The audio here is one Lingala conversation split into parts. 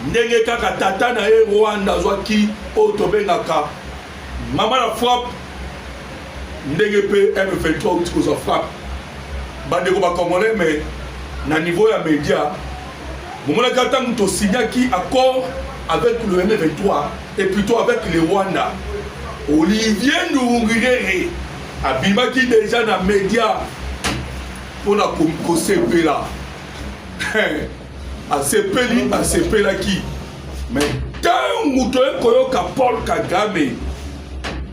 ndenge kaka tata na ye rwanda azwaki oyo tobengaka mama na frappe ndenge mpe m23 outi kozwa frappe bandeko bacongolais me na niveau ya média bomonaki ata moto osignaki accord avec le m23 et plutôt avec le rwanda olivier ndurungirere abimaki deja na média mpo na kosepela asepeli asepelaki me ntango toye koyoka paul kagame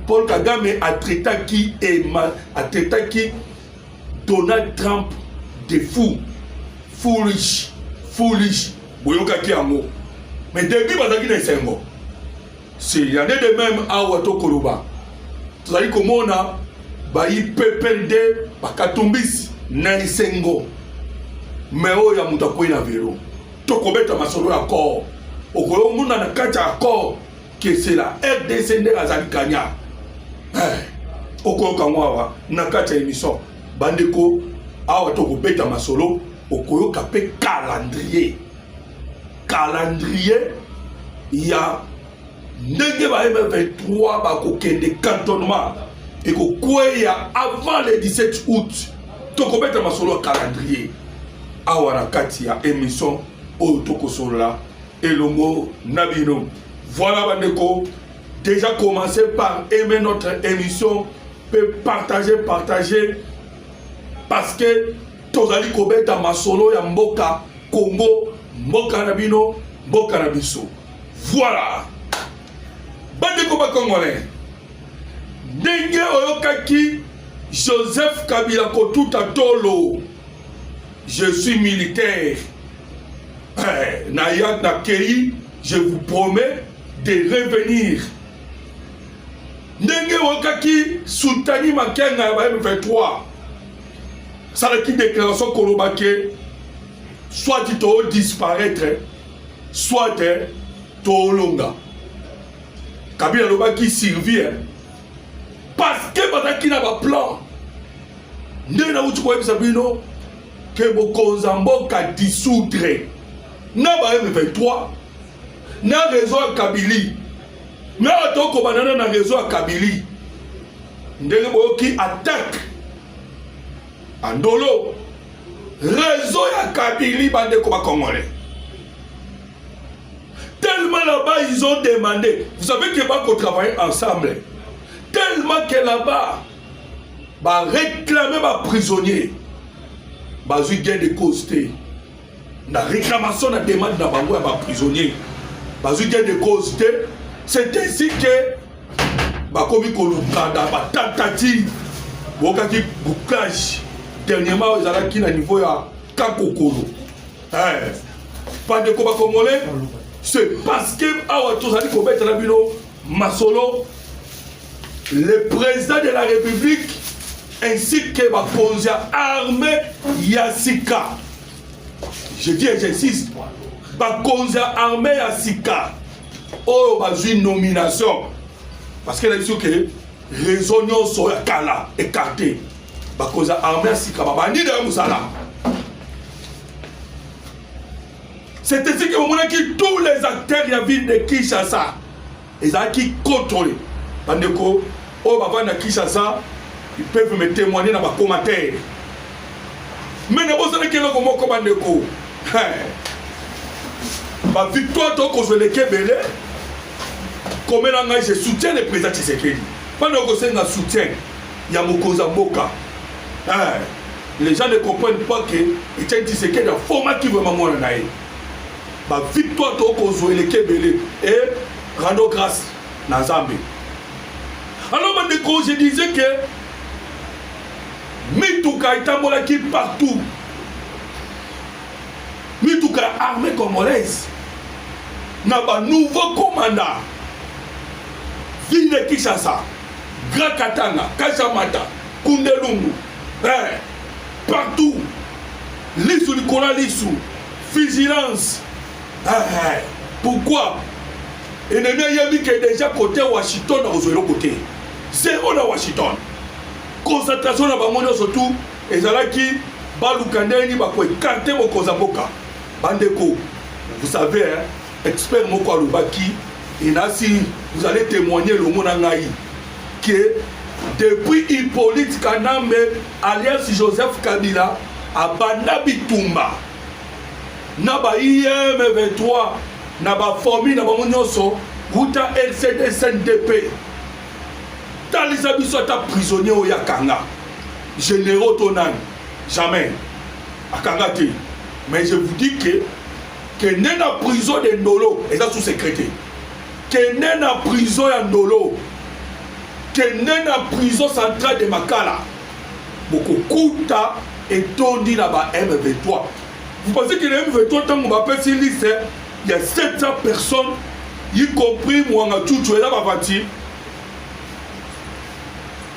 paul kagame atraitaki ema atraitaki donald trump de fou foolish foolish boyokaki yango me debi bazalaki na esengo C'est rien de même awa tokoloba tozali komona bayi ppnd bakatumbisi na esengo me oyo ya moto akwei na velo tokobeta masolo ya accord okoyomona na kati ya accord kesela rdc nde azali kanya eh, okoyoka yango awa na kati ya émission bandeko awa tokobeta masolo okoyoka mpe calendrier calendrier ya ndenge ba M23 bakokende cantonnement ekokweya avant le 17 août tokobeta masolo ya calendrier awa na kati ya émission oyo tokosolola elongo na bino voilà bandeko déjà commencé par aimer notre émission peut partager partager parce que Tozali kobeta masolo ya mboka Congo, mboka na bino, mboka na biso. Voilà. Bandeko ba Congolais, ndenge oyokaki Joseph Kabila kotuta tolo, je suis militaire. Eh, na ya na keyi, je vous promets de revenir. Ndenge oyokaki Sultani Makenga ya ba M23 asalaki déclaration koloba ke soit too disparaître soit toolonga kabila alobaki survie parce que bazalaki na baplan ndenge nauti koyebisa bino ke bokonza mboka dissoudre na ba m23 na réseau ya kabili na otokobanana na réseau ya kabili ndenge boyoki attaque andolo rezo ya kabili bandeko bakongole tellement là-bas ils ont demandé vous savez que bakotravailler ensemble tellement que là-bas baréclame baprisonnier bazwi gain de cause te na réclamation na demande na bango ya baprisonnier bazwi gain de cause te c'est ainsi ke bakomi koluka na batentative bokaki bouclage dernièrement oyo ezalaki na niveau ya kakokolo eh, bandeko bakongolais c'est parce que awa tozali kobetela bino masolo le président de la république ainsi que bakonzi ya armée ya sika je dis et j'insiste bakonzi ya armée ya sika oyo bazwi nomination parce que nayebi soki réseau nyonso ya kala écarté bakonzi ya armée ya sika babandi nayo mosala c'est ainsi que bamonaki tous les acteurs ya ville de kinshasa ezalaki controle bandeko oyo bavandi na kinshasa ils peuvent me témoigner na bacommentaire mene bozalaki eloko moko bandeko bavictoire tokozwa eleki ebele komela ngai je soutien le président tshisekedi mpana okosenga soutien ya mokonzi ya mboka les gens ne comprennent pas que etienne tshisekedi afomaki vraimen mwana na ye ba victoire tokozwa eleki ebele e rando grâce na nzambe alors bandeko je disais que mituka etambolaki partout mituka ya armée congolaise na banouveau commanda ville de kinshasa grand katanga kashamata kundelungu eh, partout lisu likolo ya lisu vigilance eh, pourquoi enemi ayebi ke deja kote washington akozwa eloko te zero na washington concentration na bango nyonso tu ezalaki baluka ndenge nini bakoekarte bokonza mboka bandeko vous savez hein? Expert moko alobaki et nasi vous allez témoigner elongo na ngai que depuis Hippolyte Kanambe alias Joseph Kabila abanda bitumba na ba IM 23 na ba famille na bango nyonso wuta LCD SNDP talisa biso ata prisonnier oyo akanga généraux to nani jamais akanga te mais je vous dis que kende na prison de ndolo eza sous secret te kende na prison ya ndolo kende na prison centrale de makala bokokuta etondi na ba m23 vous pensez que na m23 ntango bapesi liste ya 700 personnes y compris mwanga cucu eza bavati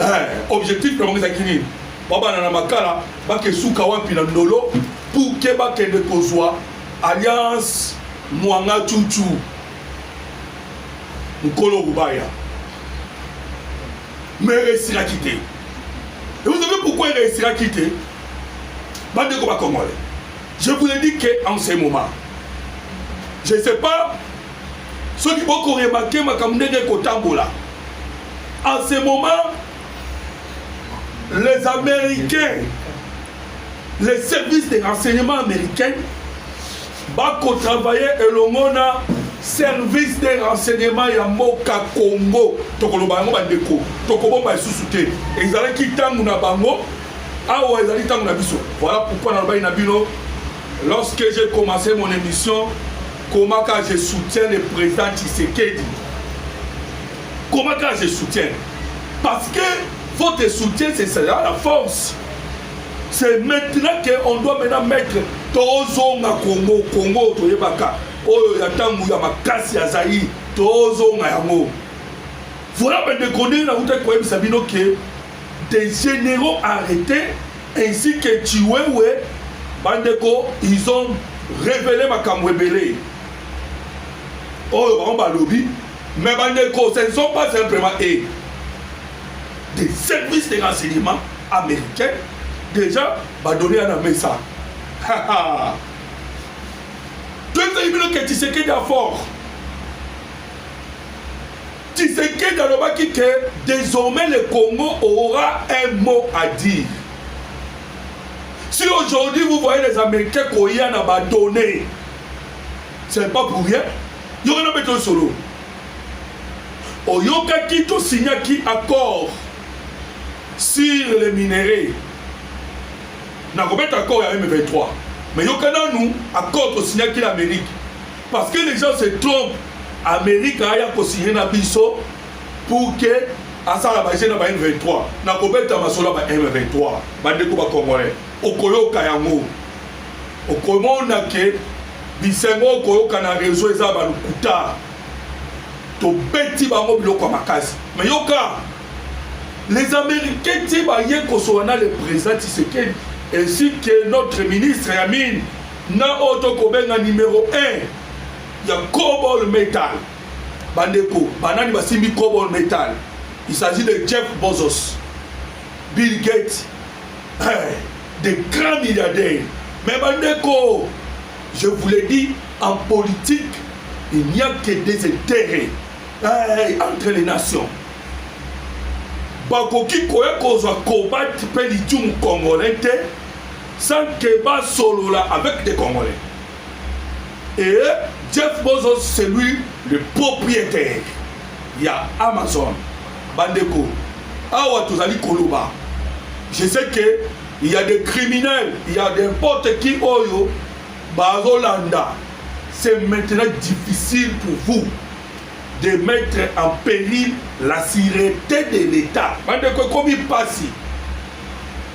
eh, objectif na bango ezalaki nini babana na makala bakesuka wapi na ndolo pour ke bakende kozwa alliance mwanga cucu mokolo rubaya mais ereusiraki te et vous savez pourquoi ereusiraki te bandeko bakongole je vous ai dit que en ce moment je sais pas soki boko remarke makambo ndenge ekotambola en ce moment les américains les services de renseignement américain bakotravaille elongo na service de renseignement ya mboka congo tokoloba yango bandeko tokobomba lisusu te ezalaki ntango na bango awa ezali ntango na biso voilà pourkui nalobaki na bino Lorsque j'ai commence mon emission komaka je soutiens le président Tshisekedi komaka je soutiens parce que votre soutien c'est ça la force c'est maintenant que on doit maintenant mettre tozonga Congo Congo toyebaka oyo ya ntango ya makasi ya Zaïre tozonga yango voilà bandeko ndenge nautaki koyebisa bino ke des generaux arretes ainsi que Tshiwewe bandeko ils ont révélé makambo ebele oyo bango balobi mais bandeko ce ne sont pas simplement e des services de renseignement américains déjà badonne ya na mesa toyebisaki bino ke tshisekedi afort Tshisekedi alobaki que désormais le Congo aura un mot à dire. Si aujourd'hui vous voyez les Américains koya na ba données, c'est pas pour rien. Yoko na beto solo. Oyokaki to signaki accord sur les minerais. Na kobeta accord ya M23. Mais yokana nous accord to signaki l'Amérique. Parce que les gens se trompent. Amerika aya kosigne na biso pour que asala baje na ba M23 na kobeta masolo ya ba M23 bandeko ba Congolais okoyoka yango okomona ke bisengo okoyoka na reseau eza balukuta tobeti bango biloko ya makasi me yoka les américains ti baye kosola na le président tshisekedi ainsi que notre ministre ya mine Nga oyo tokobenga numero 1 ya Cobol Metal. Bandeko, banani basimbi Cobol Metal? Il s'agit de Jeff Bezos, Bill Gates, eh, des grands milliardaires. Mais bandeko, je vous l'ai dit, en politique, il n'y a que des intérêts eh, entre les nations. bakoki koya kozwa kobat mpe licumu congolais te Sans que ba solola avec des Congolais. Et Jeff Bozo c'est lui le propriétaire ya Amazon. Bandeko, awa tozali koloba. Je sais que il y a des criminels, il y a n'importe qui oyo bazolanda. C'est maintenant difficile pour vous de mettre en péril la sûreté de l'État. Bandeko ekomi pasi.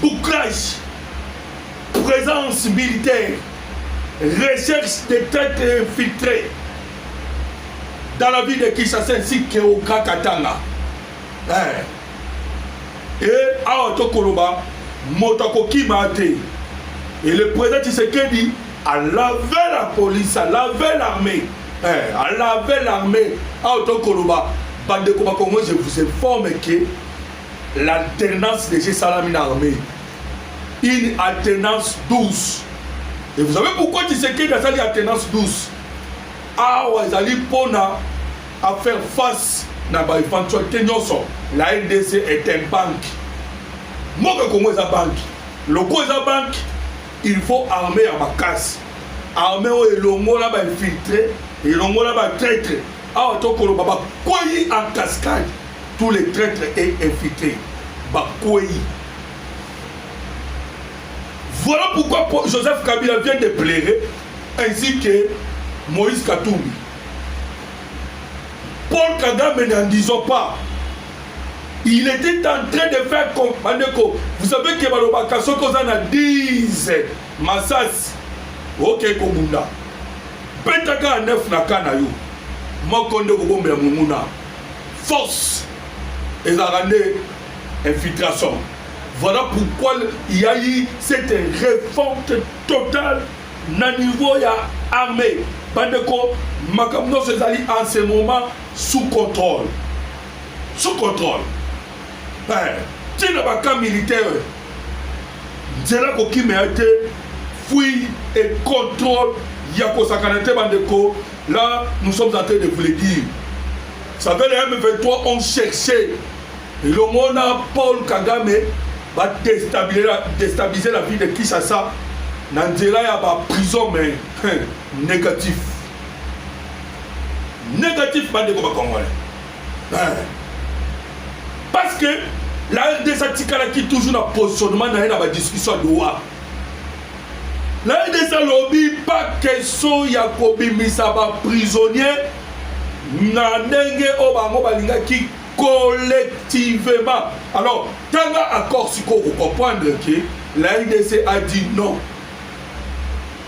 bouclage, présence militaire, recherche des traîtres infiltrés dans la ville de Kinshasa ainsi qu'au Grand Katanga. Eh. Et awa tokoloba moto akokima te et le président Tshisekedi a lavé la police, a lavé l'armée, eh, a lavé l'armée awa tokoloba bandeko bakongo je vous informe que L'alternance déjà esalami na armée. Une alternance douce. Et vous savez pourquoi Tshisekedi asali alternance douce? Awa ezali mpona à faire face na ba éventualité nyonso. La RDC est un banque. Mboka Congo eza banque. Loko eza banque, il faut armée ya makasi. Armée oyo elongola ba infiltrés, elongola ba traîtres. Awa to koloba ba kweyi en cascade tous les traitres et infiltrés ba kweyi. Voilà pourquoi Joseph Kabila vient de pleurer ainsi que Moïse Katumbi. Paul Kagame n'en disons pas. Il était en train de faire comprendre que vous savez que Balobaka Sokozana 10 Masasi oke kobunda beta kaka neuf na ka na yo moko nde kobombela monguna force ezalaka nde infiltration voilà pourquoi il y a eu cette révolte totale na niveau ya armée bandeko makambo nyonso ezali en ce moment sous contrôle sous contrôle ntina baka militaire nzela kokima ya te fouille et contrôle ya kosakana te bandeko là nous sommes en train de vous le dire ça fait les m23 ont cherché elongo na paul kagame badestabilise la ville de kinshasa na nzela ya baprison mais hein, négatif négatif bandeko bakongolais parce que la rdc atikalaki toujours na positionnement na ye na badiscussion ya doha la rdc alobi pa question ya kobimisa baprisonnier na ndenge oyo bango balingaki collectivement alors tanga accord sikoyo okomprendre ke la rdc a dit non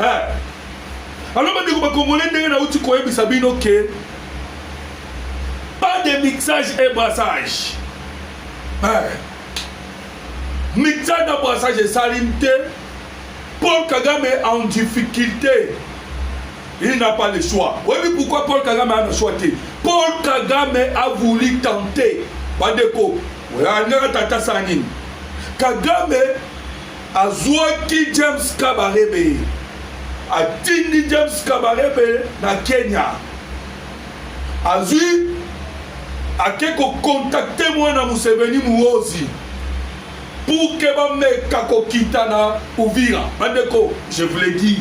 eh. alors bandeko bakongole ndenge nauti koyebisa bino ke pas de mixage et brassage eh. mixage na brassage esali te paul kagame en difficulté il n'a pas le choix oyebi pourquoi paul kagame ana choix te paul kagame a voulu tenter bandeko alingaka tata sala nini kagame Azuaki James Kabarebe, atindi James Kabarebe na Kenya. Azui ake kokontakte mwana Museveni Muozi pour que bameka kokita na Uvira. Bandeko, je vous l'ai dit,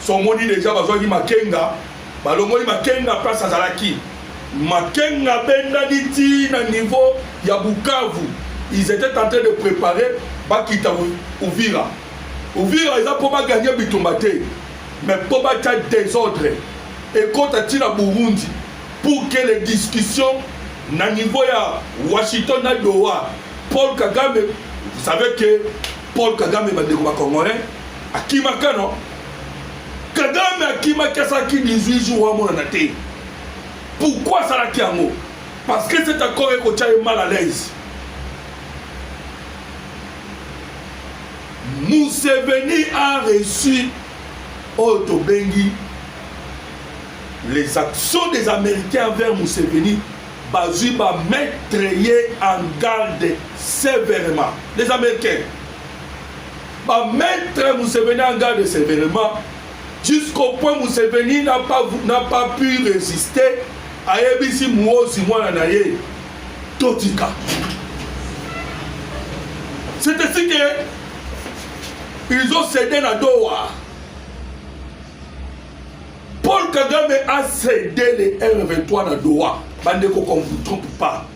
somoni deja bazwaki Makenga Balongoli Makenga place azalaki. Makenga abendani ti na niveau ya Bukavu. Ils étaient en train de préparer bakita Uvira. Uvira eza mpo baganye bitumba te mais mpo batya désordre ekota ti na Burundi pour que les discussions na niveau ya Washington na Doha Paul Kagame vous savez que Paul Kagame bandeko ba Congolais akimaka non Kagame akimaki asalaki 18 jours amonana te. Pourquoi asalaki yango? Parce que cet accord ekotya ye mal à l'aise. Museveni a reçu oyo tobengi les actions des Américains envers Museveni bazwi ba mettre ye en garde sévèrement les Américains Ba mettre Museveni en garde severement jusqu'au point Museveni n'a pas, n'a pas pu résister ayebisi muozi mwana na ye totika c'est ainsi que ils ont cédé na doha paul kagame a cédé le rv3 na doha bandeko qu'on vous trompe pas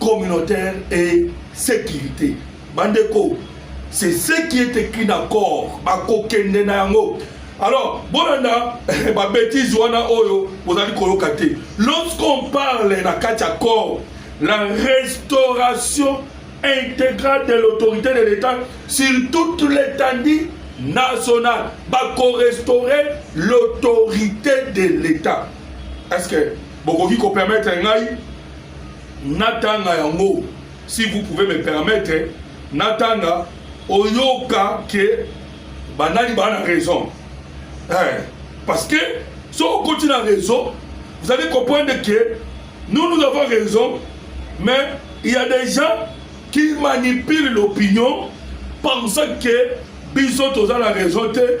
communautaire et sécurité bandeko c'est ce qui est écrit na corps bakokende na yango alors bolanda babétise wana oyo bozali koyoka te lorsqu'on parle na kati ya corps la restauration intégrale de l'autorité de l'état sur toute l'étendue nationale bakorestaurer l'autorité de l'état est ce que bokoki kopermettre ngai natanga yango si vous pouvez me permettre natanga oyoka ke banani baa na raison eh, parce que so okoti na raison vous allez comprendre que nous nous avons raison mais il y a des gens qui manipulent l'opinion pensant que biso toza na raison te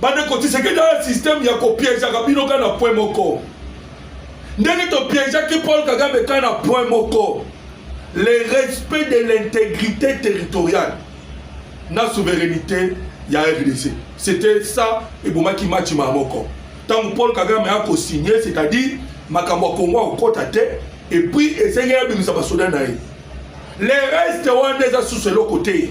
bandeko tisekedi aya systeme ya kopiejaka bino kaka na point moko ndenge topiejaki paul kagame kaka na point moko le respect de l'intégrité territoriale na souveraineté ya rdc c'était ça ebomaki match maa moko ntango paul kagame aya kosigne c'est-à-dire makambo ya kongo akokota te epuis esengeli abimisa basoda na ye le reste wana eza susu eloko te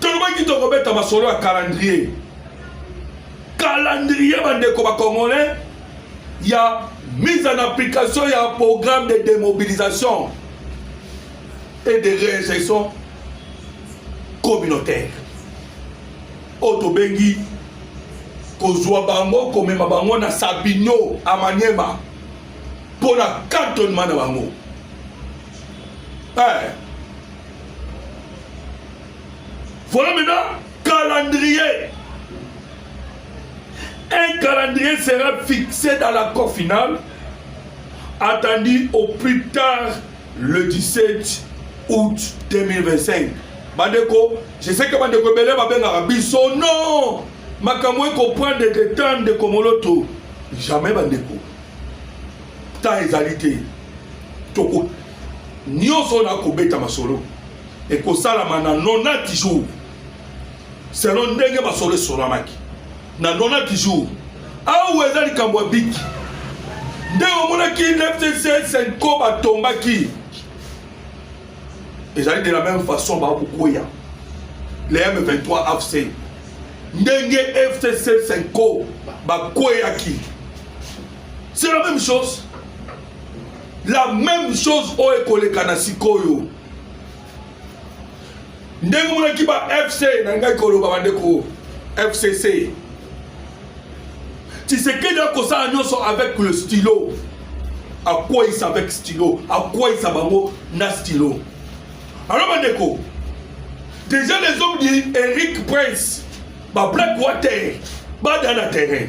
tolobaki tokobeta masolo ya calendrier calendrier bandeko bacongolais ya mise en application ya programme de démobilisation et de réinsertion communautaire oyo tobengi kozwa bango komema bango na sabino amaniema mpo na kantonema na bango Eh. Voilà maintenant calendrier. Un calendrier sera fixé dans l'accord final, attendu au plus tard le 17 août 2025. Bandeko, je sais que bandeko ebele babengaka biso non makambo ekoprendre de temps ndeko moloto jamais bandeko temps ezali te toko nyonso oyo nakobeta masolo ekosalama na 90 jours selon ndenge masolo esolamaki na 90 jours awa eza likambo ya biki nde omonaki fcc senco batombaki ezali de la même façon bakokwea le m23 afc ndenge fcc senco bakweyaki c'est la même chose la même chose oyo ekoleka na sikoyo ndenge monaki ba fc nalingaki koloba bandeko fcc tisekedi akosala nyonso avec le stylo akweisa avec stylo akweisa bango na stylo alors bandeko déjà les hommes dit eric prince bablack water bada na terrain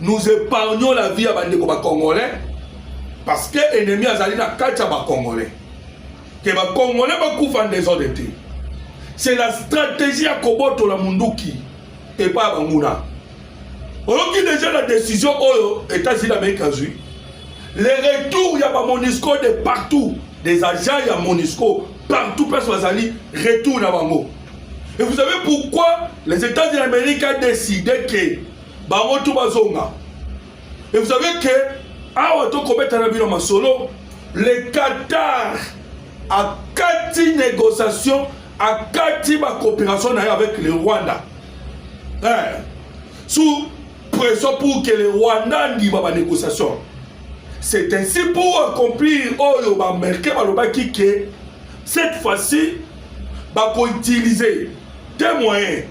nous épargnons la vie ya bandeko bacongolais parce que ennemi azali na kati ya bacongolais ke bacongolais bakufa ndesode te c'est la stratégie ya kobotola munduki epai ya banguna oyoki deja na décision oyo états-unis amérique azwi le retour ya bamonisco de partout des agents ya monisco partout place bazali retour na bango et vous savez pourquoi les états-unis amérique a décidé que bango tu bazonga et vous savez que awa tokobeta na bino masolo le qatar akati négociation akati bacoopération na ye avec le rwanda eh, sous pression pour que le rwanda andima banégociation c'est ainsi pour accomplir oyo baaméricain balobaki ke cette fois-ci bakoutilize te moyen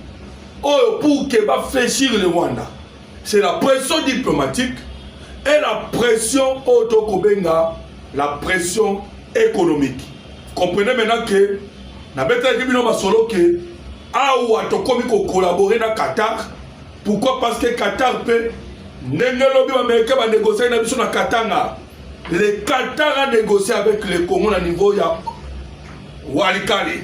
oyo pour que ba fléchir le rwanda c'est la pression diplomatique et la pression oyo tokobenga la pression économique comprenez maintenant que nabetelaki bino masolo ke awa tokomi kokolabore na qatar pourquoi parce que qatar mpe ndenge lobi bamericain banegociaki na biso na katanga le qatar a négocié avec le congo na niveau ya walikale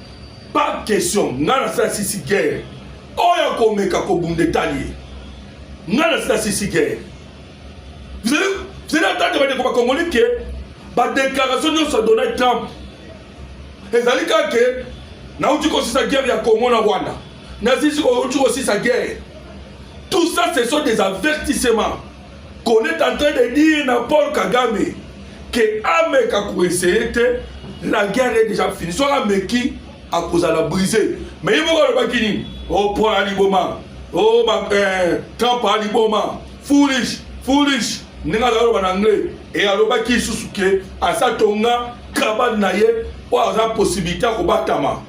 Pas question, nga na sala sisi guerre. Oyo akomeka kobunda etali ye. Nga na sala sisi guerre. Vous allez, vous allez attendre bandeko bakongoli ke badeklaration nyonso ya Donald Trump ezali kaka ke nauti kosisa guerre ya Congo na Rwanda, nazisi kouti kosisa guerre. Tout ça, ce sont des avertissements. qu'on est en train de dire na Paul Kagame que ameka koessaye te la guerre est déjà finie soki ameki akozala brise mais ye moko alobaki nini o oh, paul aliboma o oh, eh, trump aliboma foolish foolish ndenge azali aloba na anglais e alobaki lisusu ke asatonga kabane na ye oyo aza posibilité ya kobatama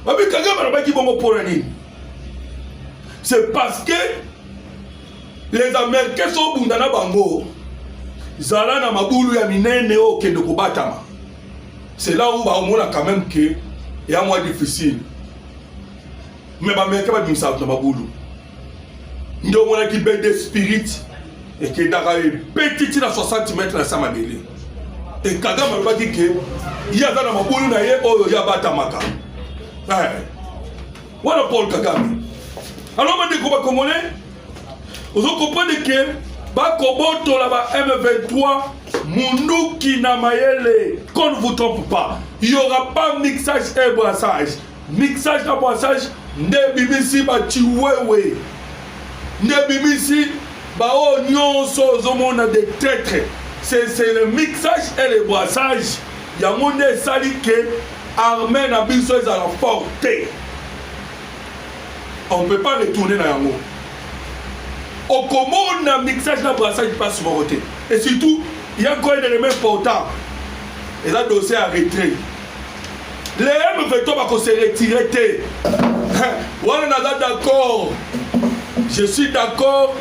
Babi Kagame alobaki bongo mpo na nini? C'est parce que les Américains sont bunda na bango. Zala na mabulu ya minene oyo okende kobatama. C'est là où baomona quand même que ya mwa difficile. Mais ba Américains babimisa bato na mabulu. nde omonaki bende spirit ekendaka ebeti ti na 60 mètre na sa mabele e kagame alobaki ke ye aza na mabulu na ye oyo ye abatamaka eh. wana paul kagame alors bandeko bakongole ozo comprendre ke bakobotola ba m23 munduki na mayele qu'on ne vous trompe pas il y aura pas mixage et brassage mixage na boisage nde ebimisi bachiwewe nde ebimisi baoyo nyonso ozomona de traitre c'est le mixage et le boisage yango nde esali ke armée na biso ezala fort te on peut pas retourner na yango okomona mixage na brassage mpasi moko te et surtout ya nkoyedele ma important eza dossier ya retrait les M20 bako se retirer te wana naza d'accord je suis d'accord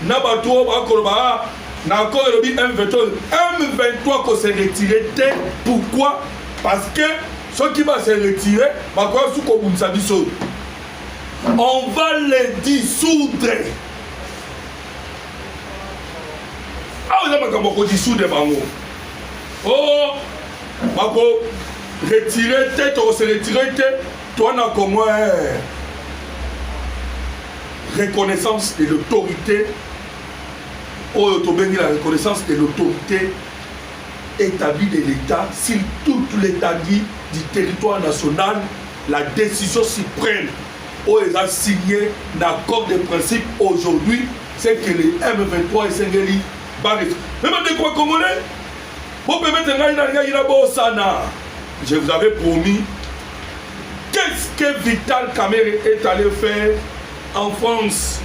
na bato oyo bakoloba ah, na accord elobi M23 M23 ko se retirer te pourquoi parce que soki ba se retirer bakoya su kobundisa biso on va les dissoudre awa eza makambo ya kodissoudre bango o oh, bako retire te tokose retire te toi na congo eh. reconnaissance de l'autorité oyo tobengi la reconnaissance de l'autorité établie de l'état sur toute l'étendue du territoire national la décision suprême oyo eza signe na accord de principe aujourd'hui c'est que le m23 esengeli baresi meme ndeko ya congolais Bo permettre ngai na ngai na bosana. Je vous avais promis qu'est-ce que Vital Kamerhe est allé faire en France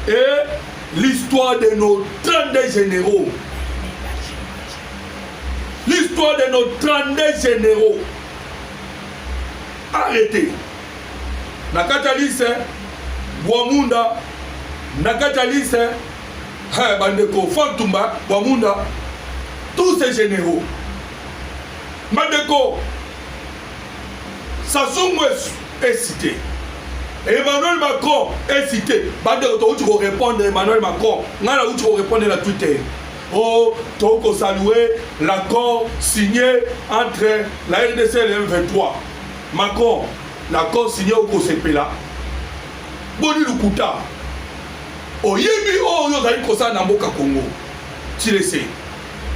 et l'histoire de nos 32 généraux. L'histoire de nos 32 généraux. Arrêtez. Nakata Lise, Boamunda, Nakata Lise, Hey, bandeko Fantumba Bwamunda tous ces généraux bandeko Sassou Nguesso est cité Emmanuel Macron est cité bandeko towuti korépondre Emmanuel Macron ngai nawuti korépondre na Twitter o oh, tokoki kosalue l'accord signé entre la rdc et le m23 macron l'accord signé okosepela Boni lokuta oyebi oyo ozali kosala na mboka Congo tilese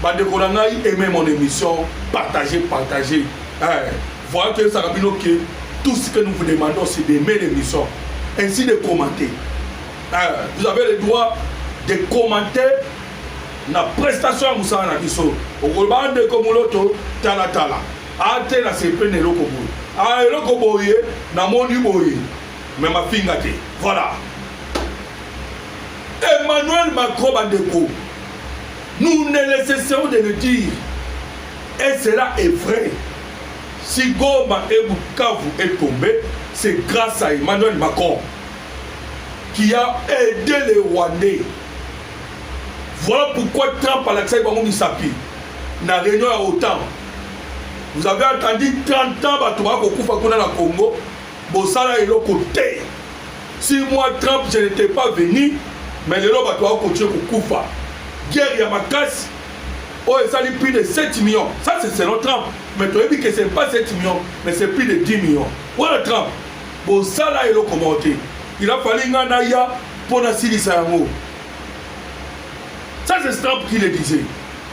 bandeko na ngai aime mon émission partage partage eh, voya toyebisaka bino ke tout ce que nous vous demandons c'est d'aimer l'émission ainsi de commenter eh, vous avez le droit de commenter na prestation ya mosala na biso okoloba ndeko moloto talatala ate na sepe na eloko boye a ah, eloko boye namoni boye mais mafinga te voilà emmanuel macron bandeko nous ne laissons de le dire et cela est vrai si goma et bukavu est tombé c'est grâce à emmanuel macron qui a aidé les rwandais voilà pourquoi trump alakisaki bango misapi na réunion ya otan vous avez attendu 30 ans bato bakokufa kuna na congo bosala eloko te si moi trump je n'étais pas venu mais lelo bato ao continue kokufa guerre ya makasi oyo oh, esali plus de 7 millions ça c'est selon trump mais toyebi que c'est pas 7 millions mais c'est plus de 10 millions wana trump bosala eloko moko te il a fallu ngai naya mpo nasilisa yango ça c'est trump qui le disait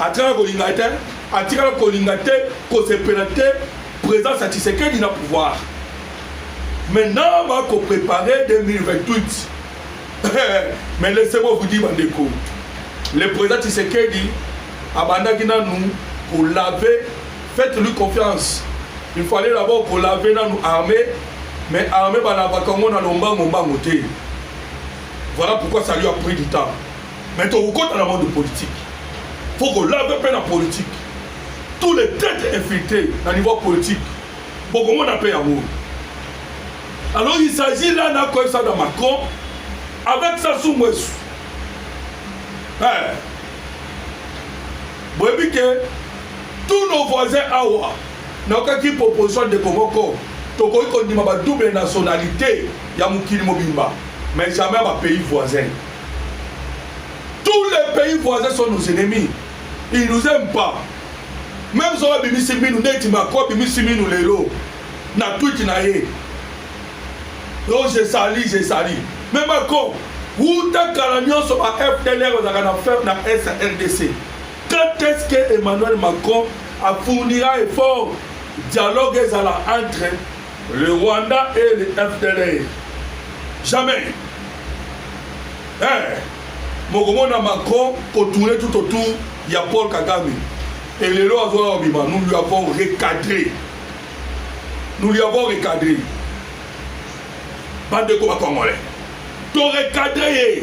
atikala kolinga te atikala kolinga te kosepela te présence ya tshisekedi na pouvoir maintenant bakoprépare 2028 mais laissez-moi vous dire bandeko le président tshisekedi abandaki nanu kolave faites lui confiance il fallait d'abord kolave nanu armée mais armée balavaka yango na lombango mbango te voilà pourquoi ça lui a pris du temps Mais tokokota na monde politique. Faut qu'on lave mpe na politique. Tous les têtes infiltrées na niveau politique. Bokomona mpe yango. Alors il s'agit là na koyebisa na Macron avec Sassou Nguesso. Eh. Boyebi que tous nos voisins awa nakokaki proposition ndeko moko tokoki kondima ba double nationalité ya mokili mobimba mais jamais ba pays voisins Tous les pays voisins sont nos ennemis. Ils nous aiment pas. Même soki abimisi minu neti Macron abimisi minu lelo na tweet na ye. Donc je sali, je sali. Mais Macron, wuta kala nyonso ba FDLR bazalaka na ferme na Est ya RDC. Quand est-ce que Emmanuel Macron a fournira effort dialogue ezala entre Le Rwanda et le FDLR. Jamais. Eh, mokomona Macron kotourne tout autour ya Paul Kagame. Et les lois ont bima, nous lui avons recadré. Nous lui avons recadré. Bande de combat congolais. To recadré.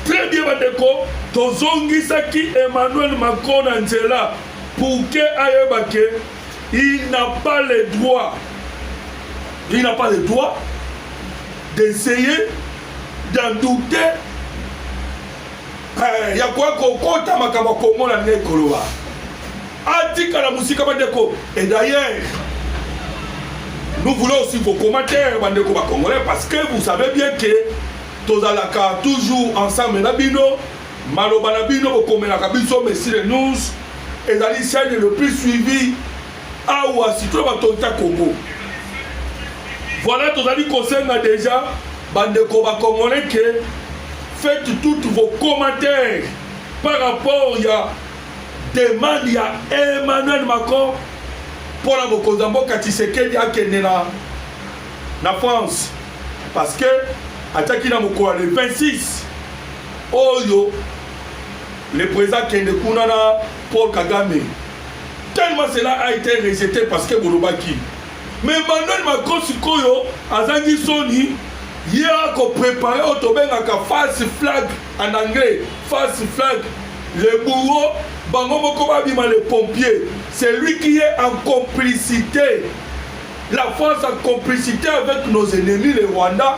Très bien, Bandeko. Tozongisaki Emmanuel Macron na nzela pour que ayebake Il n'a pas le droit, il n'a pas le droit d'essayer d'en douter eh, ya koya kokota makambo kongo na ndenge koloba atikala mosika bandeko et d'ailleurs nous voulons aussi vos commentaires bandeko bakongolais parce que vous savez bien que tozalaka toujours ensemble na bino Maloba na bino bokomelaka biso Messi le News ezali chaîne le plus suivi awa sitolo bato ta Congo. Voilà tozali kosenga déjà bandeko ba congolais que faites toutes vos commentaires par rapport ya demande ya Emmanuel Macron mpo na bokonzi ya mboka Tshisekedi akende na na France parce que atiaki na mokolo ya le 26 oyo le president kende kuna na paul kagame tellement cela a été rejeté parce que bolobaki me emmanuel macron sikoyo azangi soni ye akoprepare oyo tobengaka false flag en anglais false flag le bourreau bango moko babima le pompier c'est lui qui est en complicité la france en complicité avec nos ennemis le rwanda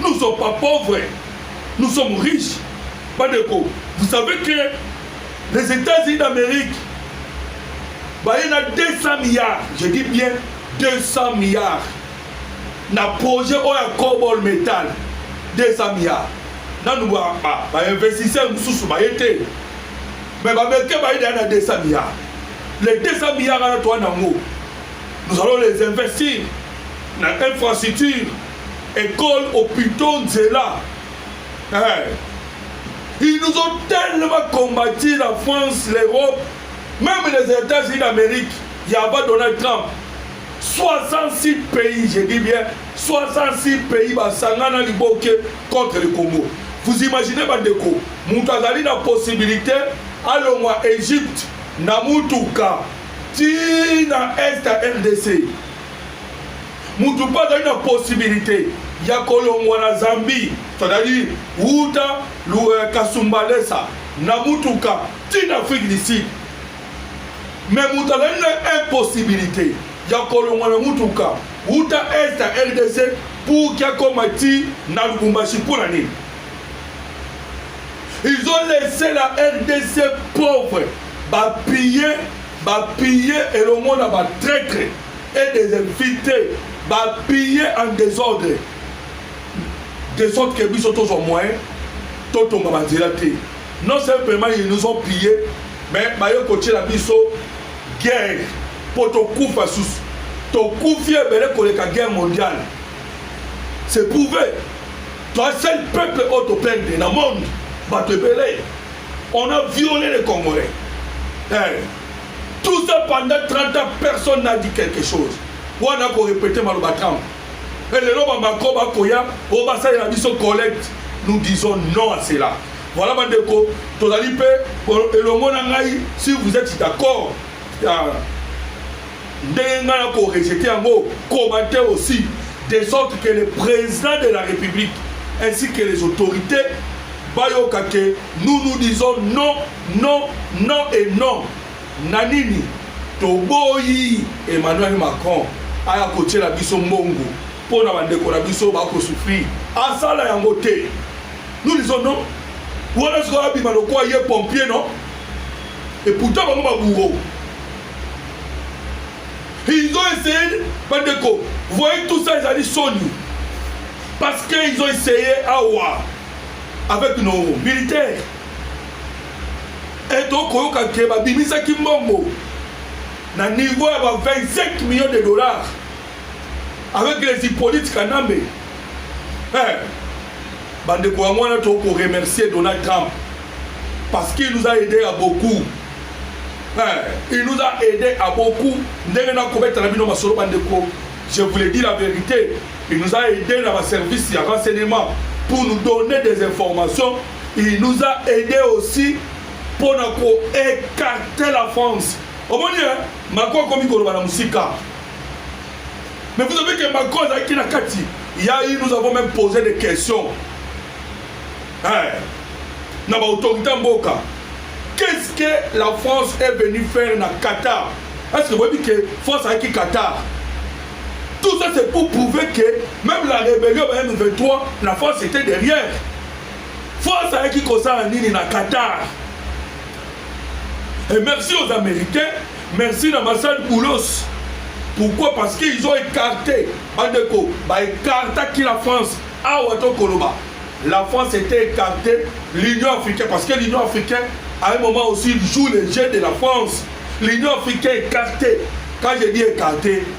Nous sommes pas pauvres, nous sommes riches. Badeko, vous savez que les États-Unis d'Amérique, bah, il y a 200 milliards, je dis bien 200 milliards, na projet oyo ya cobol metal 200 milliards nanu bainvestisseur mosusu baye te mais bamericain baye deya na 200 milliards les 200 milliards wana toa nango nous allons les investir na infrastructure Ecole hopitaux nzela eh. Ils nous ont tellement combattu la France, l'Europe, même les États-Unis d'Amérique, il y a pas Donald Trump. 66 pays, je dis bien, 66 pays basangana liboke contre le Congo. Vous imaginez bandeko, mutu azali na possibilité alongwa Égypte na mutuka ti na est ya RDC. Mutu mpe azali na possibilite ya kolongwa na Zambie, c'est-à-dire wuta euh, Kasumbalesa na mutuka ti na Afrique du Sud, mais mutu azali na impossibilite ya kolongwa na mutuka wuta est ya RDC pour ki akoma ti na Lubumbashi mpo na nini? Ils ont laissé la RDC pauvre, bapille bapille elongo na batraitre et des invites ba bille en desordre de sorte que biso tozwa moyen totonga banzela te non simplement ils nous ont pillé mais baye kotyela biso guerre mpo tokufa susu tokufi ebele koleka guerre mondiale c'est prouvé toi seul peuple oyo toperde na monde bato ebele on a violé les congolais hey. Eh, Tout ça pendant 30 ans personne n'a dit quelque chose. Wana ko répéter maloba Trump. Et lelo ba Macron ba koya o ba sala na biso collecte. Nous disons non à cela. Voilà ba ndeko tozali pe elongo na ngai si vous êtes d'accord euh, ndenge ngai na ko rejeter yango commenter aussi de sorte que le président de la République ainsi que les autorités bayoka que nous nous disons non Non, non et non na nini? Toboyi Emmanuel Macron aya kotiela biso mbongo mpo na bandeko na biso bako souffrir. Asala yango te. Nous disons non. Wana sikoyo abima lokola ye pompier non? Et pourtant bango ba bourreau. Ils ont essayé bandeko, vous voyez tout ça ezali soni. Parce qu'ils ont essayé awa avec nos militaires. et tokoyoka ke babimisaki mbongo na niveau ya ba 25 millions de dollars avec les hippolyte kanambe eh, bandeko yango wana tokoremercier donald trump parce qu'il nous a aidé à beaucoup eh, il nous a aidé à beaucoup ndenge nakobetana bino masolo bandeko je vous le dis la vérité il nous a aidé na baservice ya renseignement pour nous donner des informations Il nous a aidé aussi mpo na ko écarter la France. Omoni eh, Macron akomi koloba na mosika. Mais vous savez que Macron azalaki na kati. Il y a eu, nous avons même posé des questions. Eh, na ba autorité mboka. Qu'est-ce que la France est venue faire na Qatar? Est-ce que vous dites que France a qui Qatar? Tout ça c'est pour prouver que même la rébellion en M23, la France était derrière. Faux azalaki kosala nini na Qatar? Et merci aux Américains, merci na Massad Boulos. Pourquoi Parce qu'ils ont écarté, bandeko, ba écartaki la France. Awa to koloba. La France était écartée, l'Union africaine, parce que l'Union africaine, à un moment aussi, joue les jeux de la France. L'Union africaine écartée. Quand je dis écartée,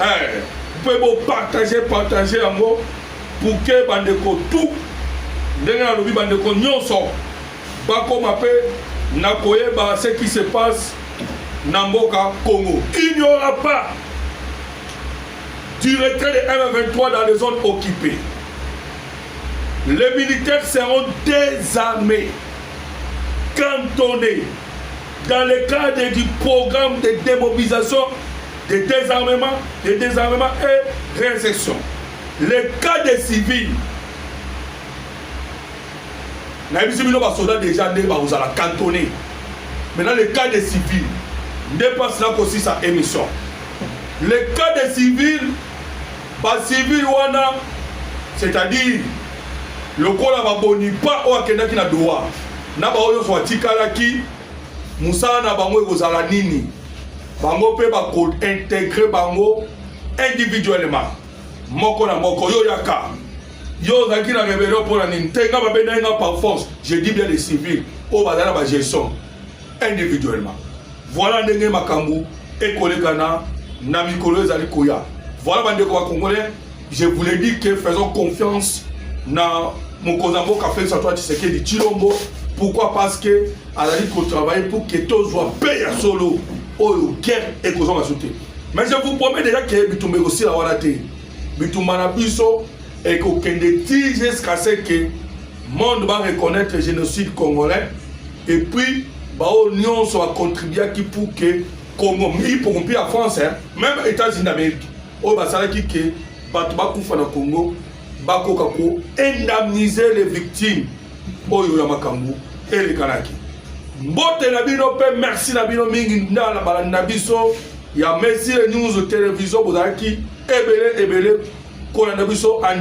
eh, mpe bopartage partage yango puke bandeko tu ndenge nalobi bandeko nyonso bakoma mpe na koyeba ce qui se passe na mboka congo il n'y aura pas du retrait de m23 dans les zones occupées les militaires seront désarmés cantonnés Dans le cadre du programme de démobilisation, de désarmement, de désarmement et réinsertion, le cas des civils nayebisi bino basoda déjà nde bakozala cantonné maintenant le cas des civils nde mpasi nakosisa émission le cas des civils bacivile wana c'est-à-dire lokola baboni pa oyo akendaki na doha Na baoyo nyonso batikalaki, mosala na bango ekozala nini? Bango mpe bakointegre bango individuellement, moko na moko. Yo yaka, yo ozalaki na rebellion mpo na nini? Te nga babendaki nga par force, je dis bien les civils oyo bazali na bagestion individuellement. Voilà ndenge makambo ekolekana na mikolo ezali koya. Voilà bandeko bakongolais Je voulais dire que faisons confiance na mokonzi ya mboka Felix Antoine Tshisekedi Tshilombo. Pourquoi? Parce que azali ko travailler pour que tozwa paix ya solo oyo guerre ekozwa masu te. Mais je vous promets déjà que bitumba ekosila wana te. Bitumba na biso ekokende ti jusqu'à ce que monde va reconnaître génocide congolais et puis baoyo nyonso bacontribuaki pour que Congo, y compris la France, hein, même États-Unis d'Amérique, oyo basalaki ke bato bakufa na congo bakoka ko indemniser les victimes oyo ya makambo elekanaki mbote na bino mpe merci na bino mingi ndala balandi na biso ya mesire news televizio bozalaki ebele ebele kolanda biso